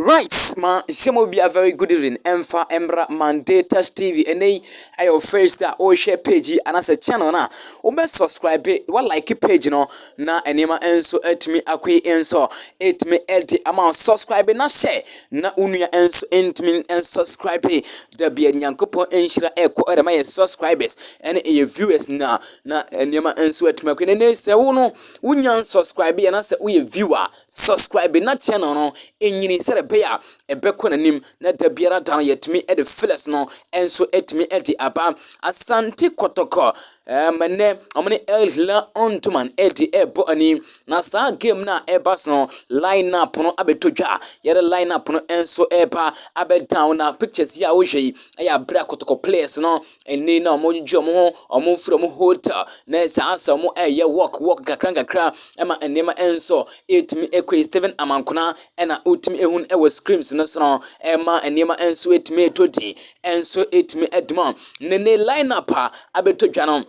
Right ma nhyɛ mu obi a very good evening ɛmfa ɛmmra Monday Touch TV ɛnɛ yi ɛyɛ o first a ɔrehwɛ page yi anaasɛ channel no a wobɛ subscribe wa like page no na nneɛma nso atumi akɔ yi nso ɛtumi ɛde ama subscribe na hyɛ na wo nua nso ntumi subscribe da bia nyankopɔn nhyira ɛkɔ ɛde ma yɛ subscribers ɛne ɛyɛ viewers na na nneɛma nso atumi akɔ yi na ɛnɛ sɛ wo no wonya subscribe anaasɛ woyɛ viewer Subscribe na channel no ɛnyini sɛdeɛ ɛbɛyɛ a ɛbɛkɔ n'anim na da biara da no yɛtumi de flɛs no nso ɛtumi de aba asante kɔtɔkɔ ɛɛm ɛnɛ wɔn ne el hila ɔntoman ɛde ɛbɔ ani na saa game no a ɛba so no line up no abɛtɔ dwa yɛde line up no nso ɛba abɛdan na pictures yi a wohwɛ yi ɛyɛ abira kɔtɔkɔ players no Ɛnnɛ yi na wɔdwedwe wɔn ho, wɔfiri wɔn hotel na saa nso wɔreyɛ walk walk nkakrankakra ma nneɛma nso atumi akɔ yie. Stephen Amankona na wotumi hu no wɔ screen no so no ma nneɛma nso atumi atɔ din nso atumi adi mu. Ne ne line up a abɛtɔ dwa no.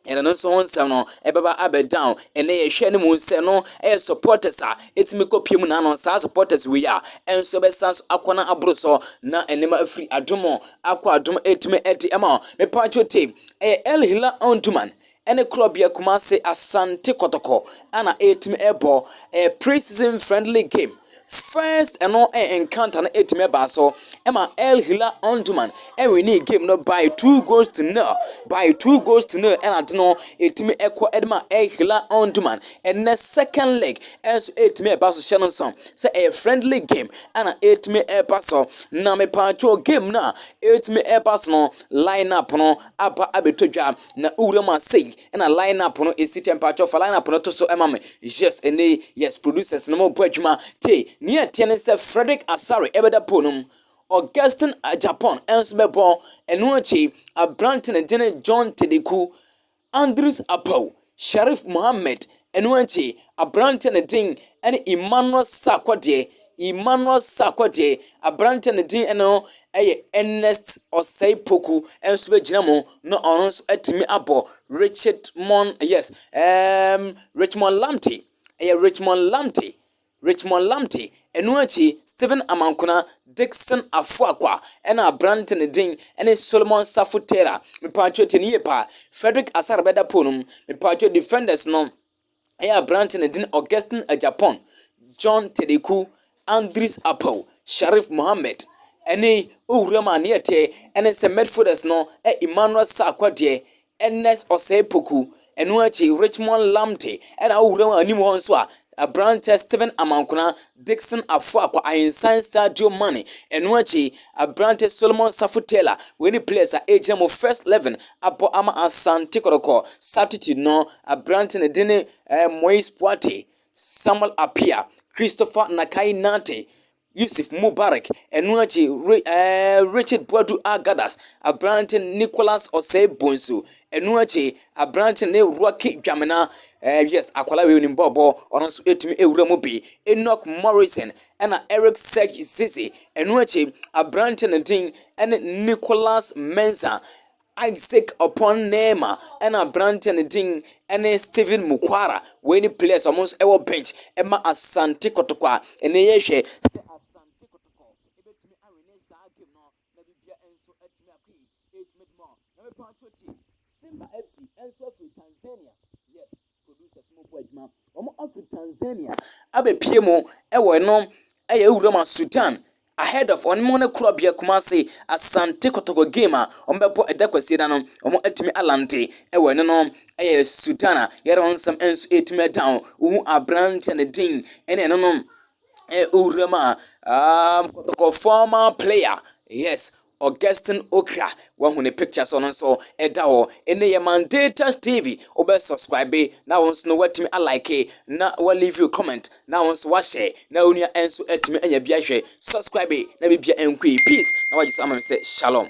ɛna no nso ho nsɛm no ɛbɛba abɛdan ɛnɛ yɛhwɛ no mu sɛ no ɛyɛ supporters a ɛtumi kɔ pie mu na ano saa supporters wei a ɛnso bɛsan so akɔ na aboro so na ɛnɛma afiri adomo akɔ adom ɛtumi ɛde ɛma mepatwo te ɛyɛ El Hilal Omdurman ɛne korɔbea Kumase Asante Kɔtɔkɔ ɛna ɛtumi ɛbɔ ɛyɛ pre-season friendly game. First ɛno encounter no etumi ɛbaa so ɛma Al Hilal Omdurman ɛwinee game no by two goals to nil by two goals to nil ɛna ade no etumi ɛkɔ ɛde ma Al Hilal Omdurman ɛnɛ second leg ɛnso etumi ɛba so hyɛ no nso sɛ ɛyɛ friendly game ɛna etumi ɛba so na mepaatwo game no a etumi ɛba so no line up no aba abɛtɔ dwa Na wo wura mu a sei na line up no esi temperature fa line up no to so ma me yes ɛnɛ yi yes producers no mo bɔ adwuma te nea ɛteɛ ne sɛ Frederick Asare ɛbɛda pool no mu Augustine Japan ɛnso bɛbɔ ɛno akyi aberante ne dene John Tedeku Andrews Apaw Sharif Mohammed ɛno akyi aberante ne den ɛne Emmanuel Sakwadeɛ Emmanuel Sarkor deɛ, aberanteɛ a ne din no yɛ Ernest Osei Poku nso bɛgyina mu na ɔno nso atumi abɔ Richmond, yes, ɛɛm, Richmond Lamte, ɛyɛ Richmond Lamte, Richmond Lamte. Ɛno akyi, Stephen Amankona, Dickson Afoakwa, ɛna aberanteɛ a ne din ne Solomon Safo Taylor. Mepaakyɛw tie no yie paa. Frederick Asare bɛda pole no mu. Mepaakyɛw defenders no, yɛ aberante na ne din Augustine Agyapong, John Tedeku, Andris Apaw, Sharif Mohammed, ne Owura mu aneɛteɛ ne St. Medfordus no, Emmanuel Sarkwa deɛ, Ernest Osei Poku, ɛno akyi Richmond Lamptey, ɛna Owura mu anim hɔ nso a, aberanteɛ Stephen Amankona, Dickson Afoakwa, Ahinsan Sadio Mane, ɛno akyi Aberante Solomon Safo Taylor, wei ne players a ɛgyina mu first eleven abɔ ama Asante Kɔtɔkɔ, substitute no, aberante ne din ne eh, Moise Puate, Samuel Apia, Christopher Nakai Nante, Yusuf Mubarak, ɛno akyi eh, Richard Boadu Agadas, aberante Nicholas Osei Bonsu, ɛno akyi aberante ne Rocky Dwamena, eh, yes, akwala wei nim bɔɔbɔ, ɔno nso ɛtumi ɛwura mu bi, Enoch Morrison, ɛna Eric Serge Cisse, ɛno akyi aberanteɛ no din ɛne Nicolas Mensah, Isaac Opon Neymar, ɛna aberanteɛ no din ɛne Steven Mukwara, wei ne players a wɔn nso ɛwɔ bench ɛma Asante Kɔtɔkɔ a ɛnɛ yɛhwɛ sɛ Asante Kɔtɔkɔ ɛbɛtumi awene saa game no na bibia nso ɛtumi akɔ yi ɛtumi dima na mepatwo ti Simba FC ɛnso afiri Tanzania yes Producers mo bɔ adwuma wɔn afiri Tanzania abɛpie mo ɛwɔ ɛno ɛyɛ ewura ma Sudan ahead of wɔn mo ne korɔbea Kumasi Asante Kotoko game a wɔn bɛbɔ ɛda kwasie da no wɔn atumi alante ɛwɔ ɛno no ɛyɛ Sudan a yɛrɛ wɔn nsɛm ɛnso ɛtumi ɛda ho wohu abranteɛ ne din ɛne ɛno no ɛyɛ ewura ma um, Kotoko former player yes. Augustine Okra wahu ne picture so no nso ɛda hɔ ɛnɛ yɛ Mandatus TV wobɛ subscribe na wo nso no watumi a like na wa leave you comment na wo nso wa share na wo nua nso atumi anya bi ahwɛ subscribe na bibia nkue peace na wagye so ama me sɛ shalom.